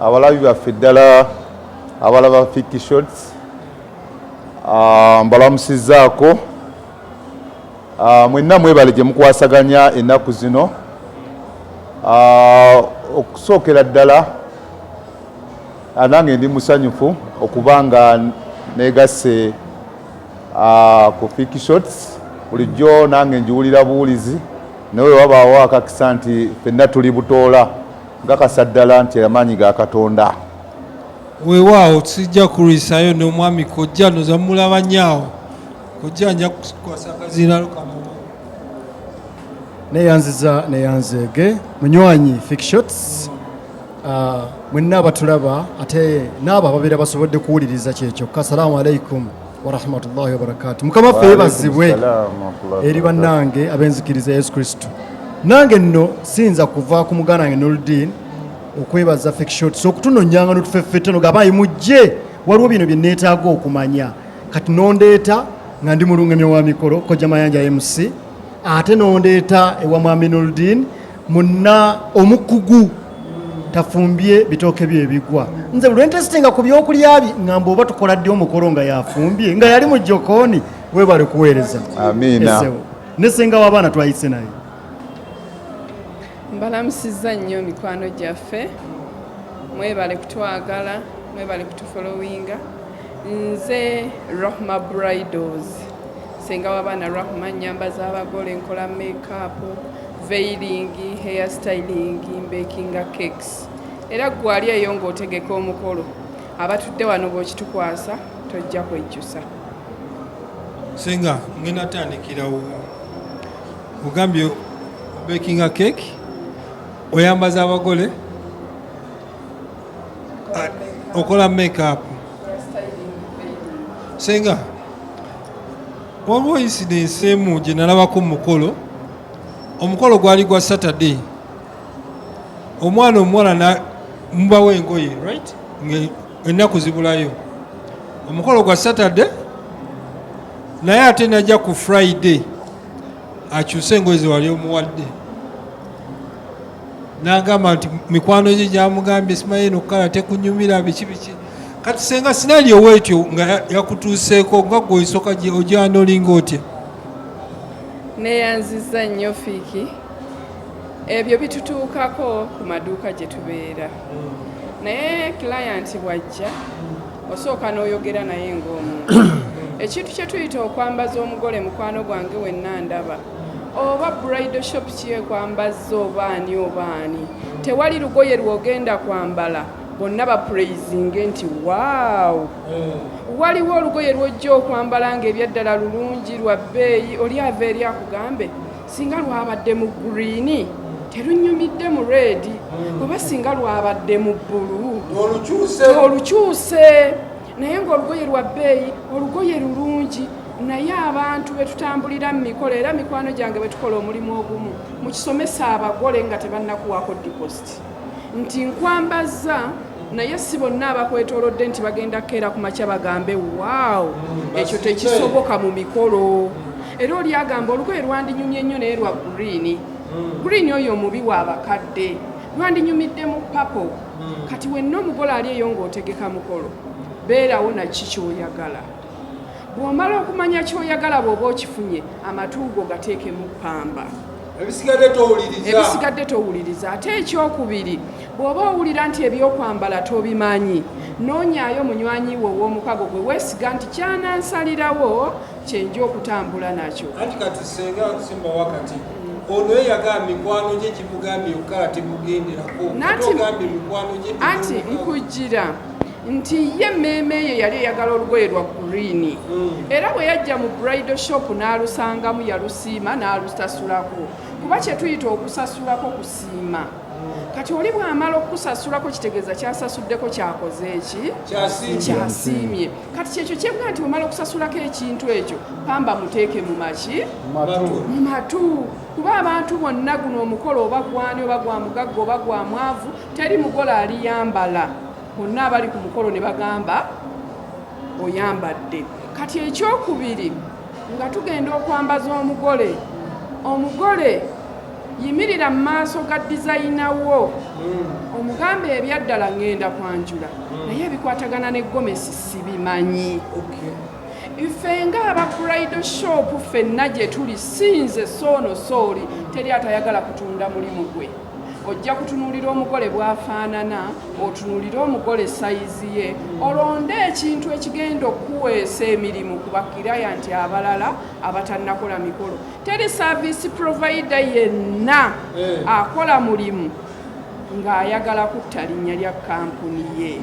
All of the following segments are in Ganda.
abalabi baffe ddala abalaba fiki shots ah, mbalamusizaako ah, mwenna mwebale gye mukwasaganya ennaku zino ah, okusookera ddala nange ndi musanyufu okuba nga negase ku fiki shots bulijjo nange njiwulira buwulizi nawe wabaawo akakisa nti fenna tuli butoola Nkakasa ddala nti amaanyi ga Katonda. Weewaawo sijja kulwisaayo n'omwami kojja noza mulaba nyaawo kojja nja kukwasa kaziralo kamu neyanziza neyanzeege munywanyi fikshots uh, ah, mwenna abatulaba ate naabo ababeera basobodde kuwuliriza kyekyokka salaamu alaikum warahmatullahi wabarakatu mukama waffe yebazibwe eri bannange ab'enzikiriza yesu kristo nange nno siyinza kuva ku muganda wange noludin okwebaza fekishots okutunonyanga notufeffeteno gabayi mujje waliwo bino bye neetaaga okumanya kati nondeeta nga ndi mulungamya wa mikolo kojja mayanja mc ate nondeeta ewa mwami noludin munna omukugu tafumbye bitooke bye bigwa nze lwentesitinga ku byokulya bye ngamba oba tukola ddi omukolo nga yafumbye nga yali mu jokooni webale kuweereza amiina nesenga w'abaana twayise naye mbalamusiza nnyo mikwano gyaffe mwebale kutwagala mwebale kutufolowinga Nze Rahma Bridals, senga w'abaana Rahma, nnyamba z'abagole, nkola makeup, veiling, hair styling, mbekinga cakes era ggwe ali eyo ng'otegeka omukolo abatudde wano bw'okitukwasa tojja kwejjusa. Senga ngenda tandikirawo ogambye bakinga cake oyambaza abagole Ah, okola makeup senga waliwo incidence emu gye nalabako mu mukolo omukolo gwali gwa saturday omwana omuwala mubawo engoye right ennaku zibulayo omukolo gwa saturday naye ate najja ku friday akyuse engoye zewali omuwadde n'agamba nti mikwano gye gyamugambye simanyi eno kukala tekunyumira biki biki kati senga sinali owetyo nga yakutuuseeko nga gwe osoka gye ojana olinga otya neyanziza nnyo fiiki ebyo bitutuukako ku maduuka gye tubeera naye kilayanti bwajja osooka n'oyogera naye ng'omuntu ekintu kye tuyita okwambaza omugole mukwano gwange wenna ndaba oba bridal shop kyekwambazza oba ani oba ani tewali lugoye lwogenda kwambala bonna bapraisinge nti waawo eh. waliwo olugoye lwojja okwambala nga ebyaddala lulungi lwa bbeeyi oli ava eri akugambe singa lwabadde mu gurini terunyumidde mu redi hmm. oba singa lwabadde mu bbulu olukyuse naye ng'olugoye lwa bbeeyi olugoye lulungi naye abantu betutambulira mu mikolo era mikwano gyange betukola omulimu ogumu mukisomesa abagole nga tebannakuwaako dipositi nti nkwambazza naye si bonna abakwetolodde nti bagenda kukeera ku makya bagambe waawo ekyo tekisoboka mu mikolo era oli agamba olugoye lwandinyumye nnyo naye lwa gurini gurini hmm. oyo omubi wa bakadde lwandinyumidde mu papo hmm. kati wenna omugole ali eyo ng'otegeka mukolo beerawo naki kyoyagala bw'omala okumanya kyoyagala bw'oba okifunye amatuugo gateekemu pamba ebisigadde towuliriza ate ekyokubiri bw'oba owulira nti ebyokwambala tobimanyi noonyayo munywanyi wo ow'omukago gwe weesiga nti kyanansalirawo kyenja okutambula nakyo anti kati senga simba wakati ono eyagamba mikwano gye gimugambye yokka temugenderako ogambye mikwano gye anti nkujjira nti ye emmeeme eyo yali eyagala olugoye lwa gurini hmm. era bwe yajja mu brido shop n'alusangamu yalusiima n'alutasulako kuba kyetuyita okusasulako kusiima kati oli bw'amala okukusasulako kitegeeza kyasasuddeko kyakoze eki kyasiimye kati kyekyo kyebwa nti bwemala okusasulako ekintu ekyo pamba muteeke mu maki mu matu kuba abantu bonna guno omukolo oba gwani oba gwa mugagga oba gwa mwavu teri mugole aliyambala bonna abali ku mukolo ne bagamba oyambadde kati ekyokubiri nga tugenda okwambaza omugole omugole yimirira mu maaso ga dizayina wo hmm. omugambe ebyaddala ngenda kwanjula hmm. naye ebikwatagana ne gomesi sibimanyi ife nga aba brido shop fenna gye tuli sinze soono sooli teri atayagala kutunda mulimu gwe ojja kutunuulira omugole bw'afaanana otunuulire omugole sayizi ye olonde ekintu ekigenda okuweesa emirimu ku bakiraya nti abalala abatannakola mikolo Teri service provider yenna eh. akola mulimu ng'ayagala kutta linnya lya kampuni ye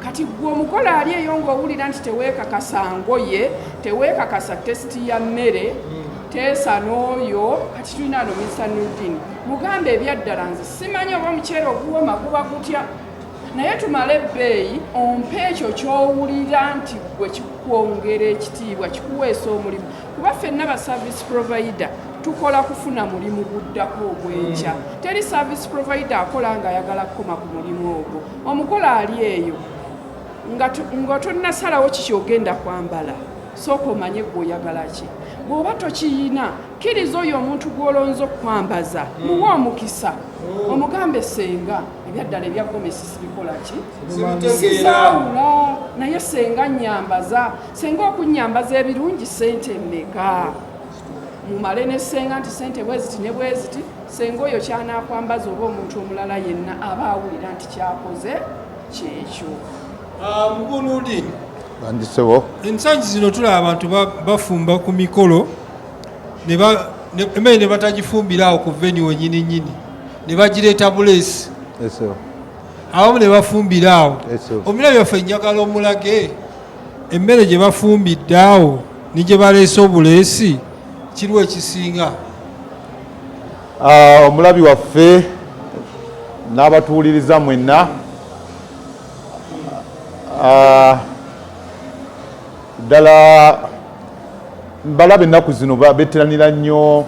kati gwe omukola ali eyo ng'owulira nti teweekakasa ngoye teweekakasa tesiti ya mmere hmm. teesa n'oyo kati tulina no mista nudin mugamba ebyaddala nze simanyi oba omuceere oguwoma guba gutya naye tumale ebbeeyi ompa ekyo kyowulira nti gwe kikwongera ekitiibwa kikuweesa omulimu kuba fenna ba service provider tukola kufuna mulimu guddako ogwenkya mm. teri service provider akola nga ayagala kukoma ku mulimu ogwo omugole ali eyo nga tonnasalawo kiki ogenda kwambala sooka omanye gwe oyagala ki bw'oba tokiyina kkiriza oyo omuntu gw'olonza okukwambaza mm. muwa omukisa mm. omugambe senga ebyaddala ebyagomesisi bikola ki sisaawula naye senga nyambaza senga okunyambaza ebirungi sente mmeka mumale ne senga nti sente bweziti ne bweziti senga oyo kyanakwambaza oba omuntu omulala yenna aba awulira nti kyakoze kyekyo ah, mugunudi bandisebo ensangi zino tulaba abantu bafumba ku mikolo emmere ne batagifumbira awo ku veni wenyini nyini ne bagireeta buleesi abamu ne bafumbira awo omulabi waffe njagala omulage emmere gye bafumbidde awo ne gye baleese obuleesi kiriwo ekisinga ah, omulabi waffe n'abatuwuliriza mwenna ah, ddala mbalaba ennaku zino beteranira nnyo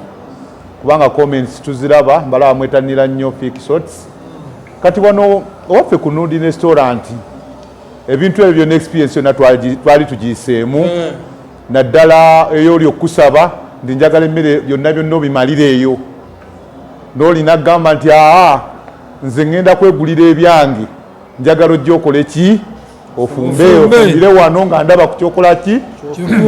kubanga comments tuziraba mbalaba mwetanira nnyo fixots kati wano owaffe ku nundi nestoranti ebintu ebyo byona experience yona twali tugiyiseemu eh. naddala eyoli okukusaba ndi njagala emmere byonna byonna obimalire eyo nolina kugamba nti aa nze ŋŋenda kwegulira ebyange njagala ojja okole ki ofumbe ofumbire wano nga ndaba ku kyokola ki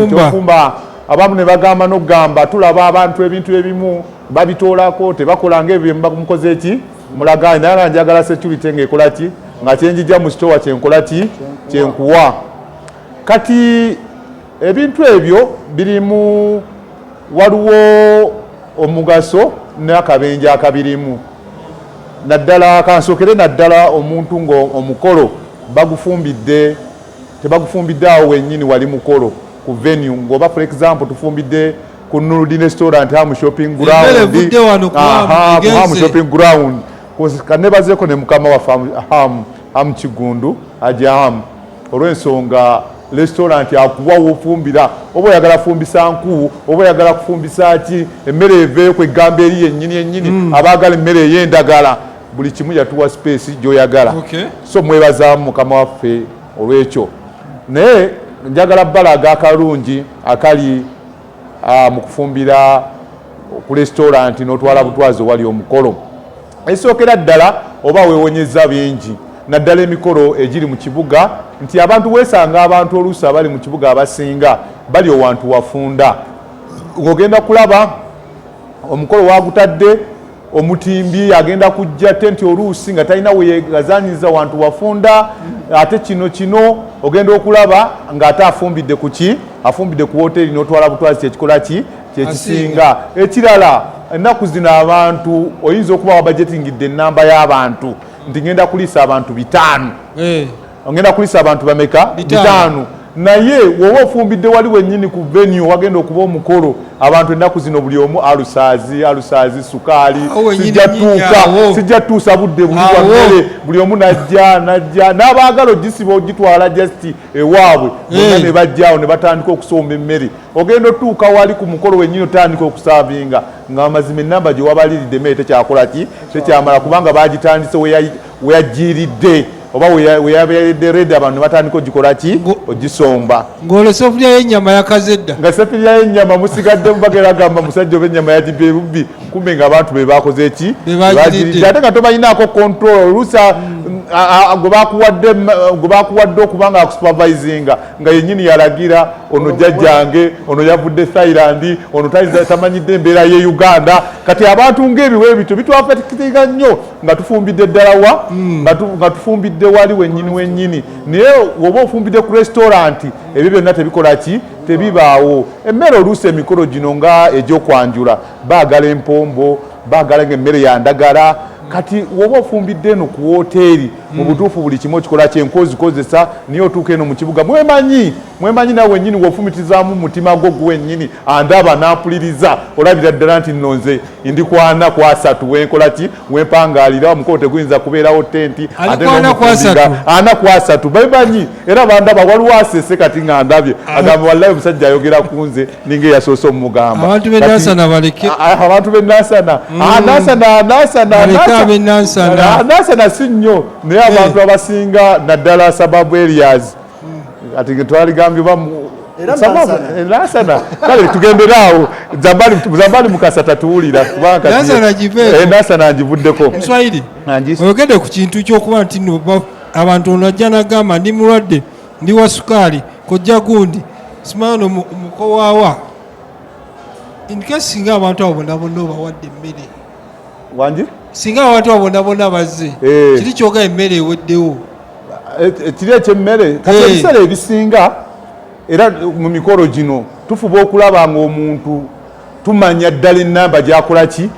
kyofumba abamu ne bagamba nokugamba tulaba abantu ebintu ebimu babitoolako tebakola nga ebyo byemubamukoze ki mulagaanyi naye nga njagala security nga ekola ki nga kyenjija mu sitowa kyenkola ki kyenkuwa kati ebintu ebyo birimu waliwo omugaso n'akabenja akabirimu naddala kansokere naddala omuntu ngaomukolo bagufumbidde tebagufumbidde awo wenyini wali mukolo ku venue ngaoba for example tufumbidde ku nurudin restaurant hamu shopping groundhamu shopping ground kanebazeko ne mukama waffe hamu kigundu ajahamu olw'ensonga lesitolanti akuwa wofumbira oba oyagala fumbisa nku oba oyagala kufumbisa ki emmere eveeyo ku eggambo eri yennyini yennyini mm. abaagala emmere ey'endagala buli kimu yatuwa sipeesi gy'oyagala okay. so mwebazaamu mukama waffe olw'ekyo naye njagala balaga akalungi akali uh, mu kufumbira ku lesitolanti n'otwala butwazi owali omukolo Esookera ddala oba weewonyezza bingi naddala emikolo egiri mu kibuga nti abantu weesanga abantu oluusi abali mu kibuga abasinga bali owantu wafunda ng'ogenda kulaba omukolo waagutadde omutimbi agenda kujja te nti oluusi nga talina weyegazanyiza wantu wafunda ate kino kino ogenda okulaba ng'ate afumbidde ku ki afumbidde ku woteeri n'otwala butwazi kyekikola ki kyekisinga ekirala ennaku zino abantu oyinza okuba wabajetingidde enamba y'abantu nti ngenda kuliisa abantu bitaano eh. ngenda kuliisa abantu bameka bitaano naye woba ofumbidde wali wenyini ku venue wagenda okuba omukolo abantu ennaku zino buli omu alusaazi alusaazi sukaali sijja tuusa budde buliwamere buli omu najja najja n'abaagala ogisiba ogitwala just ewaabwe bonna ne bajjaawo ne batandika okusomba emmere ogenda otuuka wali ku mukolo wenyini otandika okusaavinga nga amazima enamba gyewabaliridde mere tekyakola ki tekyamala kubanga bagitandise weyajjiiridde oba weyabeeredde red abantu batandika ogikola ki ogisomba ng'olwo sefulya y'ennyama yakazedda nga sefulya y'ennyama musigadde mubagera agamba musajja oba ennyama yagibye bubbi kumbe nga abantu be bakoze ki bagiridde ate nga tobalinaako control oluusa mm. gwe bakuwadde okuba nga akusupervisinga nga yenyini yalagira ono jajjange ono yavudde thailand ono tamanyidde embeera ye uganda kati abantu ngaebiwa ebityo bitwafatikiriga nnyo nga tufumbidde ddala wa hmm. nga tufumbidde wali wenyini wenyini naye oba ofumbidde ku restauranti ebyo byonna tebikola ki tebibaawo emmere oluusi emikolo gino nga egyokwanjula baagala empombo baagala nga emmere yandagala kati woba ofumbidde eno ku woteeri hmm. mu butuufu buli kimu okikola kyenkozi kozesa naye otuuka eno mu kibuga mwemanyi mwemanyi nawe wenyini wofumitizaamu mutima gwo gwenyini andaba nampuliriza olabira ddala nti nno nze ndi kwana kwasatu wenkola ki wempangalira omukolo teguyinza kubeerawo tenti ana kwasatu bemanyi era bandaba waliwo asese kati nga ndabye agamba wallayi omusajja ayogera ku nze ninga eyasoose omumugamba abantu be nasana baleke ah, ah, abantu be nasana mm. ah, nasana nasana nasana nasana si nnyo naye eh. abantu abasinga naddala sababu areas mm. ati twaligambye nasana kale tugenderaawo zambali mukasa tatuwulira kubanganasana eh, ngivuddeko oyogedde ku kintu kyokuba nti abantu onajja nagamba ndi mulwadde ndi wa sukaali kojja gundi simaano mukowaawa inkesi singa abantu abo bonabona obawadde emmere wangi singa abantu abo bonabona bazze eh. kiri kyoga emmere eweddewo eh, eh, kiri ekyemmere kati ebiseera ebisinga era mu mikolo gino tufuba okulaba ngaomuntu tumanya ddala enamba gyakolaki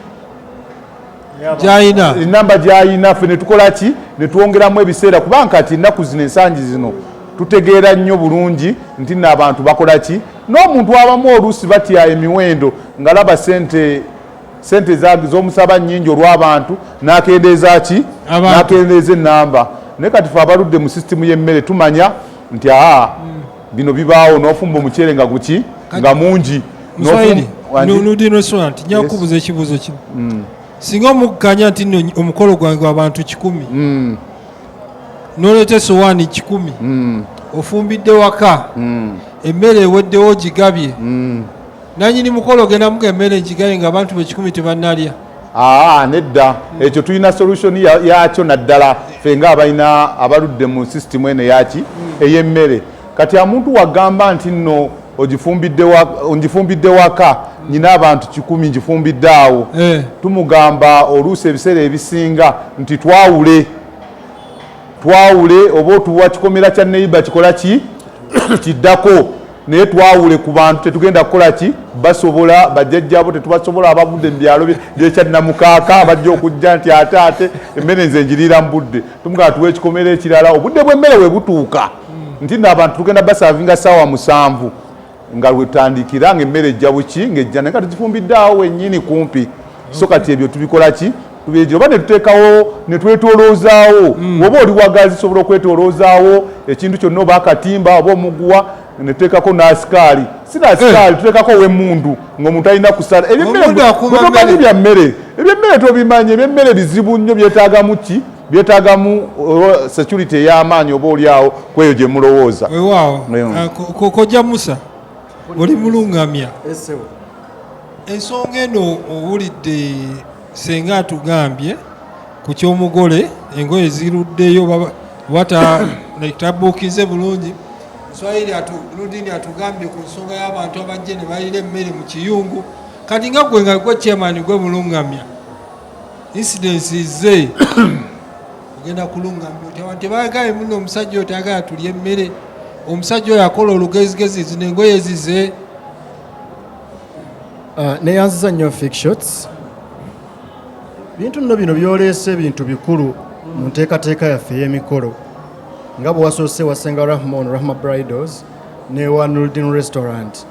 gyayina enamba gyayina fe netukola ki netwongeramu ebiseera kubanga kati ennaku zino ensangi zino tutegeera nnyo bulungi nti no abantu bakola ki n'omuntu abamu oluusi batya emiwendo ngalaba sente sente z'omusaba nyingi olw'abantu nakendeeza ki nakendeeza enamba naye kati fe abaludde mu sisitimu y'emmere tumanya nti aa hmm. bino bibaawo nofumba omuceere nga guki nga mungi nudi restaurant nja kukubuza ekibuuzo kino mm. singa omukkanya nti no omukolo gwange gwabantu kikumi mm. noleeta esowaani kikumi mm. ofumbidde waka emmere eweddewo gigabye nanyini mukolo ogenda muga emmere ngigabye nga abantu bekikumi tebanalya aa nedda ekyo tulina solution yakyo naddala fe nga abalina abaludde mu system eno yaki eyemmere kati amuntu wagamba nti nno ogifumbidde waka nyina abantu kikumi ngifumbidde awo eh. tumugamba oluusi ebiseera ebisinga nti twawule twawule oba otuwa kikomera kya neiba kikola ki kiddako naye twawule ku bantu tetugenda kukola ki basobola bajjajjabo tetubasobola abavudde mu byalo byekyadnamukaaka bajja okujja nti ate ate emmere nze njiriira mu budde tumugana tuwa ekikomera ekirala obudde bw'emmere we butuuka nti no abantu tugenda basavinga saawa musanvu nga lwetandikira nga emmere ejja buki ngaejja naye nga tugifumbidde awo wennyini kumpi so kati ebyo tubikola ki kubyejo oba netuteekawo netwetoloozaawo mm. oba oli wagazi sobola okwetoloozaawo ekintu kyonna oba akatimba oba omuguwa netuteekako n'asikaali si n'asikaali eh. tuteekako ow'emmundu ng'omuntu alina kusala ebyemmeretomanyi bya mmere ebyemmere tobimanyi ebyemmere bizibu nnyo byetaagamu ki byetaagamu uh, security ey'amaanyi oba oli awo ku eyo gye mulowooza wewaawo uh, kojja musa oli mulungamya ensonga eno owulidde Senga atugambye ku ky'omugole engoye ziruddeyo wata like tabuukize bulungi swahili lundini atugambye ku nsonga y'abantu abajje ne balira emmere mu kiyungu kati nga gwe nga gwe chairman gwe mulungamya incidence ze ogenda kulungamya oti abantu tebagaye muno omusajja oyo tayagala tulya emmere omusajja oyo akola olugezigezi zino engoye zize Ah, neyanziza nnyo fik shots bintu nno bino byoleese ebintu bikulu mu nteekateeka yaffe ey'emikolo nga bwe wasoose wasenga rahmon rahma bridals newa nuldin restaurant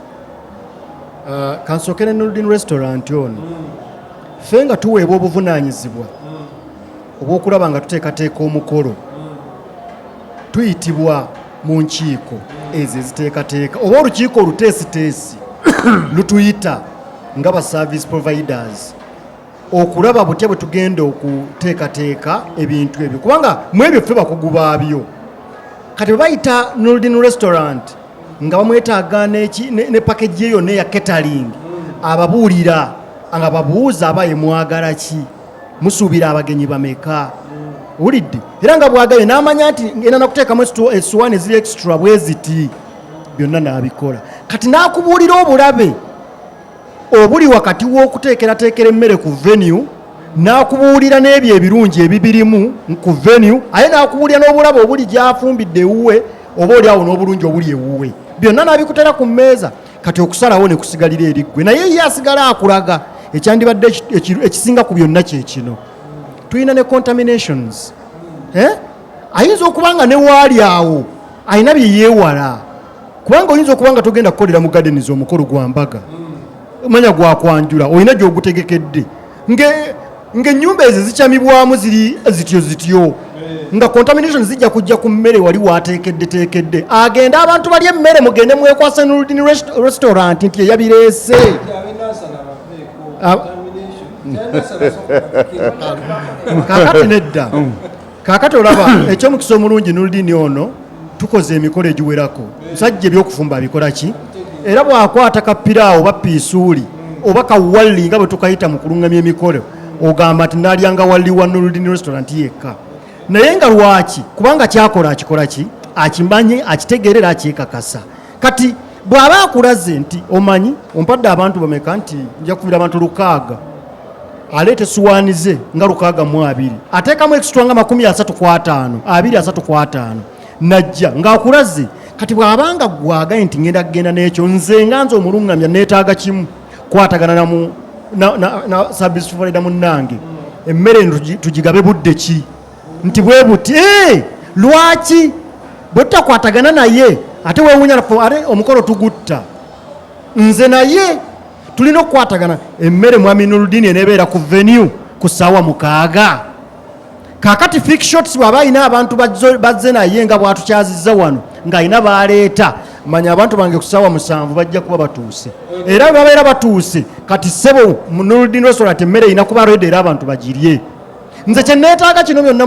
ah, kansooke ne nuldin restaurant ono ffe nga tuweebwa obuvunaanyizibwa obw'okulaba nga tuteekateeka omukolo tuyitibwa mu nkiiko ezo eziteekateeka oba olukiiko oluteesiteesi lutuyita nga ba service providers okulaba butya bwe tugenda okuteekateeka ebintu ebyo kubanga mu ebyo ffe bakugu baabyo kati bwebayita noldin restaurant nga bamwetaaga ne pakagi eyo neya catering ababuulira nga babuuza abaye mwagala ki musuubira abagenyi bameka wulidde era nga bwagaye n'amanya nti ena nakuteekamu esiwaani eziri extra bwe ziti byonna n'abikola kati n'akubuulira obulabe obuli wakati w'okuteekerateekera emmere ku venue n'akubuulira n'ebyo ebirungi ebibirimu ku venue aye n'akubuulira n'obulabe obuli gyafumbidde ewuwe oba oli awo n'obulungi obuli ewuwe byonna n'abikutera ku mmeeza kati okusalawo ne kusigalira eri ggwe naye ye asigala akulaga ekyandibadde ekisinga ku byonna kye kino tulina ne contaminations eh? ayinza okuba nga ne waali awo alina bye yeewala kubanga oyinza okuba nga togenda kukolera mu gadeniza omukolo gwa mbaga manya gwakwanjula olina gyogutegekedde nge ng'ennyumba ezo zikyamibwamu ziri zityo zityo nga contamination zijja kujja ku mmere wali wateekeddeteekedde agende abantu bali emmere mugende mwekwasa noludini restaurant nti eyabireese kakati nedda kaakati olaba ekyomukisa omulungi nuludini ono tukoze emikolo egiwerako musajja ebyokufumba abikola ki era bwakwata kapiraawo oba piisuuli oba kawalli nga bwe tukayita mu kulungamya emikolo ogamba nti nalyanga walli wa nuludini restaurant yekka naye nga lwaki kubanga kyakola akikola ki akimanyi akitegeerera akyekakasa kati bw'aba akulaze nti omanyi ompadde abantu bameka nti nja kukubira abantu lukaaga aleeta esuwaani ze nga lukaaga mu abiri ateekamu ekisitwa nga makumi asatu ku ataano abiri asatu ku ataano najja ng'akulaze kati bw'abanga gwagaye nti ngenda kugenda n'ekyo nze nga nze omulungamya neetaaga kimu kwatagana namu na, na, na service provider munnange emmere tugigabe budde ki nti bwe buti eh, lwaki bwe tutakwatagana naye ate wewunya are omukolo tugutta nze naye tulina okukwatagana emmere mwami nuludini enebeera ku venue ku saawa mukaaga kakati fik shots bwaba alina abantu bazze naye nga bwatukyaziza wano ng'alina baleeta manya abantu bange kusaawa musanvu bajja kuba batuuse era babeera batuuse kati sebo noludini restaurant emmere erina kuba redi era abantu bagirye nze kyeneetaaga kino byonna